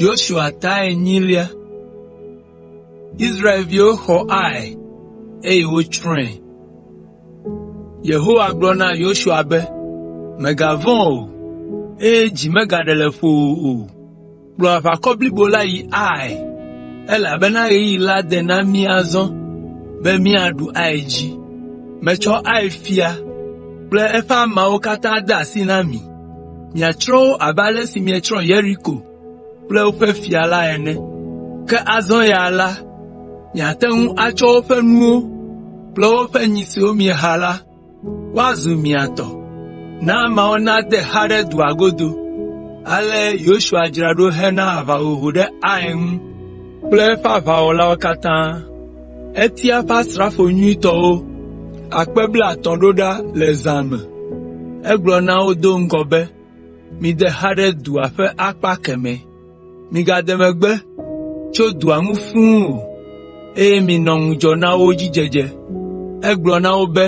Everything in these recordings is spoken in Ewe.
Yosua ta enyilia. Israelviwo xɔ Ai, eye wotsrɔ̃e. Yehowa gblɔ na Yosua be, “Mègavɔ̃ o, eye dzi megaɖe le ƒowò o. kplɔ aʋakɔ blibo la yi Ai, elabena ɣeyiɣi la de na mí azɔ be míaɖu Ai dzi. Metsɔ Ai fia kple eƒe ameawo katã de asi na mi. Miatsrɔ̃ wo abe ale si mietsrɔ̃ Yeriko kple eƒe fia la ene. Ke azɔ ya la, miate ŋu atsɔ woƒe nuwo kple woƒe nyi siwo mieha la woazu mia tɔ. Na ameawo nade xa ɖe dua godo.” Ale Yosua dzra ɖo hena aʋahoho ɖe Ai ŋu kple eƒe aʋawɔlawo katã. Etia eƒe asrafo nyuitɔwo akpe blaetɔ̃ ɖo ɖa le zã me. Egblɔ na wo do ŋgɔ be, “Mide xa ɖe dua ƒe akpa kemɛ.” “Migade megbe tso dua ŋu fũu o, eye minɔ ŋudzɔ na wo dzi dzedze.” Egblɔ na wo be,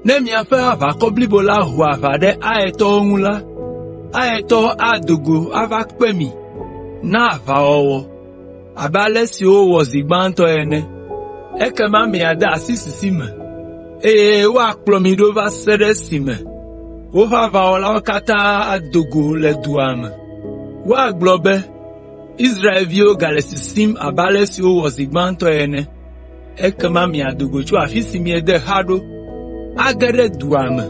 “Ne miaƒe aʋakɔ blibo la ho aʋa ɖe Aitɔwo ŋu la, Aitɔwo ado go ava kpe mi na aʋawɔwɔ abe ale si wowɔ zi gbãtɔ ene. Ekema miade asi sisi me. eye woakplɔ mi ɖo va se ɖe esime woƒe aʋawɔlawo katã ado go le dua me. Woagblɔ be, ‘Israelviwo gale sisim abe ale si wowɔ zi gbãtɔ ene.’ Ekema miado go tso afi si miede xa ɖo age ɖe dua me,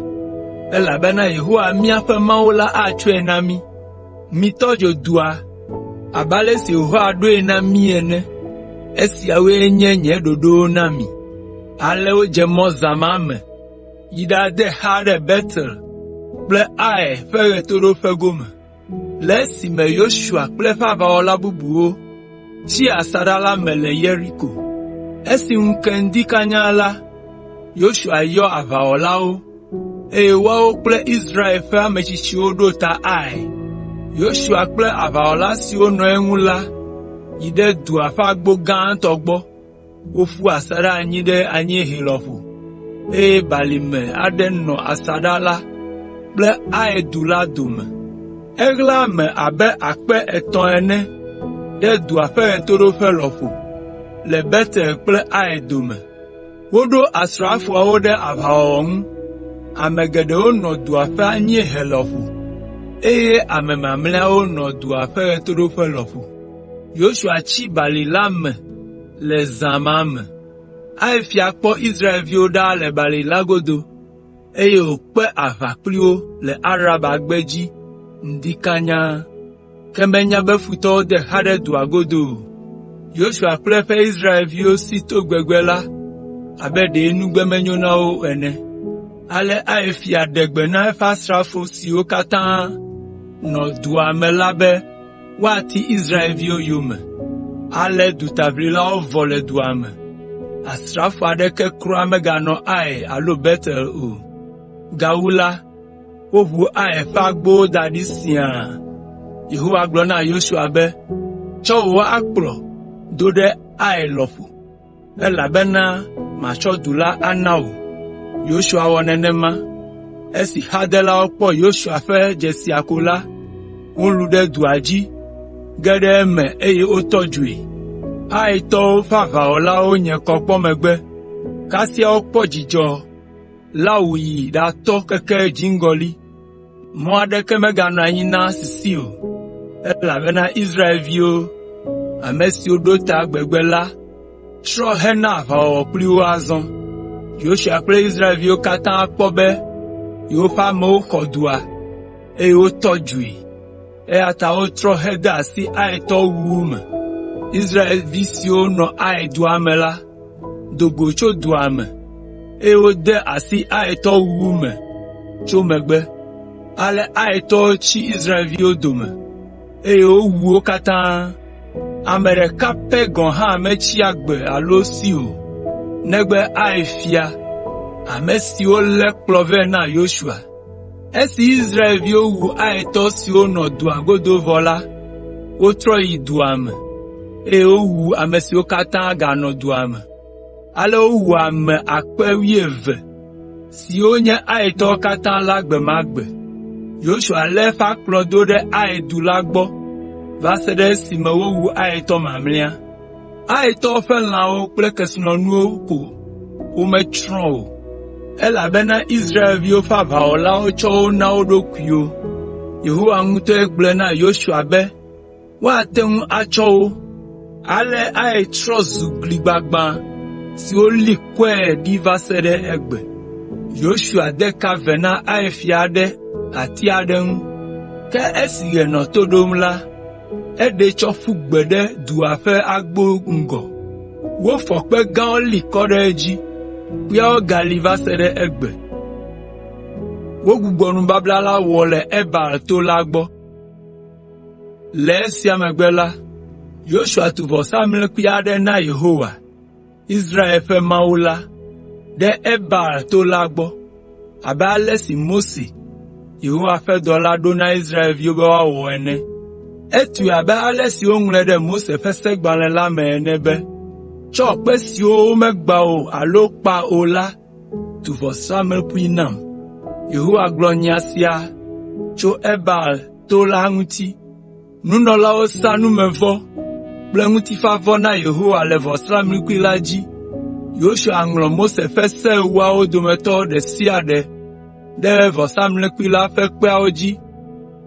elabena Yehowa miaƒe Mawu la atsɔe na mí. “Mitɔ dzo dua abe ale si Yehowa ɖoe na mí ene. Esiawoe nye nye ɖoɖowo na mi.” Ale wodze mɔ zã ma me yi ɖade xa ɖe Betel kple Ai ƒe ɣetoɖoƒe gome. Le esime Yosua kple eƒe aʋawɔla bubuwo tsi asaɖa la me le Yeriko. Esi ŋu ke ŋdi kanya la, Yosua yɔ aʋawɔlawo, eye woawo kple Israel ƒe ame tsitsiwo ɖo ta Ai. Yosua kple aʋawɔla siwo nɔ eŋu la yi ɖe dua ƒe agbo gãtɔ gbɔ. Woƒu asaɖa anyi ɖe anyiehe lɔƒo, eye balime aɖe nɔ asaɖa la kple Ai du la dome. Eɣla ame abe akpe etɔ̃ ene ɖe dua ƒe ɣetoɖoƒe lɔƒo le Betel kple Ai dome. Woɖo asrafoawo ɖe aʋawɔwɔ ŋu. Ame geɖewo nɔ dua ƒe anyiehe lɔƒo, eye ame mamlɛawo nɔ dua ƒe ɣetoɖoƒe lɔƒo. Yosua tsi balime la me le zã ma me. Ai fia kpɔ Israelviwo ɖa le balime la godo, eye wòkpe aʋa kpli wo le Araba gbedzi ŋdi kanya. ke menya be futɔwo de xa ɖe dua godo o. Yosua kple eƒe Israelviwo si to gbegbe la abe ɖe nugbe menyo na wo o ene. Ale Ai fia ɖe gbe na eƒe asrafo siwo katã nɔ dua me la be woati Israelviwo yome. Ale dutaʋlilawo vɔ le dua me. Asrafo aɖeke kura meganɔ Ai alo Betel o. Gawu la, Woʋu Ai ƒe agbowo da ɖi siaa. Yehowa gblɔ na Yosua be, “Tsɔ wò akplɔ do ɖe Ai lɔƒo, elabena matsɔ du la ana wò.” Yosua wɔ nenema. Esi xadelawo kpɔ Yosua ƒe dzesia ko la, wolũ ɖe dua dzi ge ɖe eme eye wotɔ dzoe. Aitɔwo ƒe aʋawɔlawo nye kɔ kpɔ megbe, kasia wokpɔ dzidzɔ. la wòyi ɖatɔ keke dziŋgɔli. Mɔ aɖeke meganɔ anyi na sisi o, elabena Israelviwo, ame siwo ɖo ta gbegbe la trɔ hena aʋawɔwɔ kpli wo azɔ. Yosua kple Israelviwo katã kpɔ be yewoƒe amewo xɔ dua, eye wotɔ dzoe. Eya ta wotrɔ hede asi Aitɔwo wuwu me. Israelvi siwo nɔ Ai dua me la do go tso dua me, eye wode asi Aitɔwo wuwu me tso megbe. Ale Aitɔwo tsi Israelviwo dome, eye wowu wo katã. Ame ɖeka pɛ gɔ̃ hã metsi agbe alo si o, negbe Ai fia, ame si wolé kplɔ vɛ na Yosua. Esi Israelviwo wu Aitɔ siwo nɔ dua godo vɔ la, wotrɔ yi dua me, eye wowu ame siwo katã ganɔ dua me. Ale wowu ame akpe wuieve (12,000) siwo nye Aitɔwo katã la gbe ma gbe. Yosua lé eƒe akplɔ do ɖe Ai du la gbɔ va se ɖe esime wowu Aitɔ mamlɛa. Aitɔwo ƒe lãwo kple kesinɔnuwo ko wome tsrɔ̃ o, elabena Israelviwo ƒe aʋawɔlawo tsɔ wo na wo ɖokuiwo. Yehowa ŋutɔe gblɔe na Yosua be woate ŋu atsɔ wo. Ale Ai trɔ zu gli gbagbã si woli kɔe ɖi va se ɖe egbe. Yosua de ka ve na Ai fia ɖe ati aɖe ŋu, ke esi ɣe nɔ to ɖom la, eɖee tsɔ ƒu gbe ɖe dua ƒe agbo ŋgɔ. Wofɔ kpe gãwo li kɔ ɖe edzi, kpeawo gali va se ɖe egbe. Wogbugbɔ nubabla la wɔ le Ebal to la gbɔ. Le esia megbe la, Yosua tu vɔsamlekpui aɖe na Yehowa. Israel ƒe Mawu la, ɖe Ebal to la gbɔ, abe ale si Mose, Yehowa ƒe dɔla ɖo na Israelviwo be woawɔ ene. Etsoe abe ale si woŋlɔe ɖe Mose ƒe segbalẽ la me ene be, “Tsɔ kpe siwo womegbã o alo kpa o la tu vɔsamlekpui nam.” Yehowa gblɔ nya sia tso Ebal to la ŋuti. Nunɔlawo sa numevɔ kple ŋutifafavɔ na Yehowa le vɔsamlekpui la dzi. Yosua ŋlɔ Mose ƒe Se Ewoawo dometɔ ɖe sia ɖe ɖe vɔsamlekpui la ƒe kpeawo dzi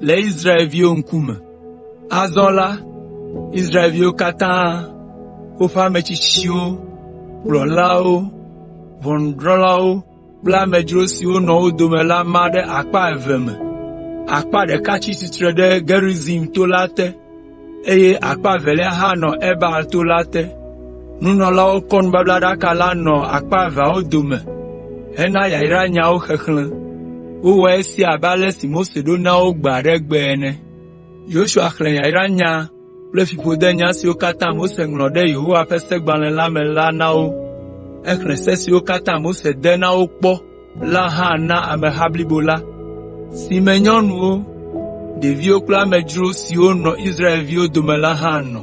le Israelviwo ŋkume. Azɔ la, Israelviwo katã, woƒe ame tsitsiwo, kplɔlawo, ʋɔnudrɔ̃lawo, kple amedzro siwo nɔ wo dome la ma ɖe akpa eve me. Akpa ɖeka tsi tsitre ɖe Gerizim to la te, eye akpa evelia hã nɔ Ebal to la te. Nunɔlawo kɔ nubablaɖaka la nɔ akpa eveawo dome hena yayranyawo xexlẽ. Wowɔ esia abe ale si Mose ɖo na wo gbe aɖe gbe ene. kple fiƒode nya siwo katã Mose ŋlɔ ɖe Yehowa ƒe Segbalẽ la me la na wo. Exlẽ se siwo katã Mose de na wo kpɔ la hã na ameha blibo la, si me nyɔnuwo, ɖeviwo kple amedzro siwo nɔ Israelviwo dome la hã nɔ.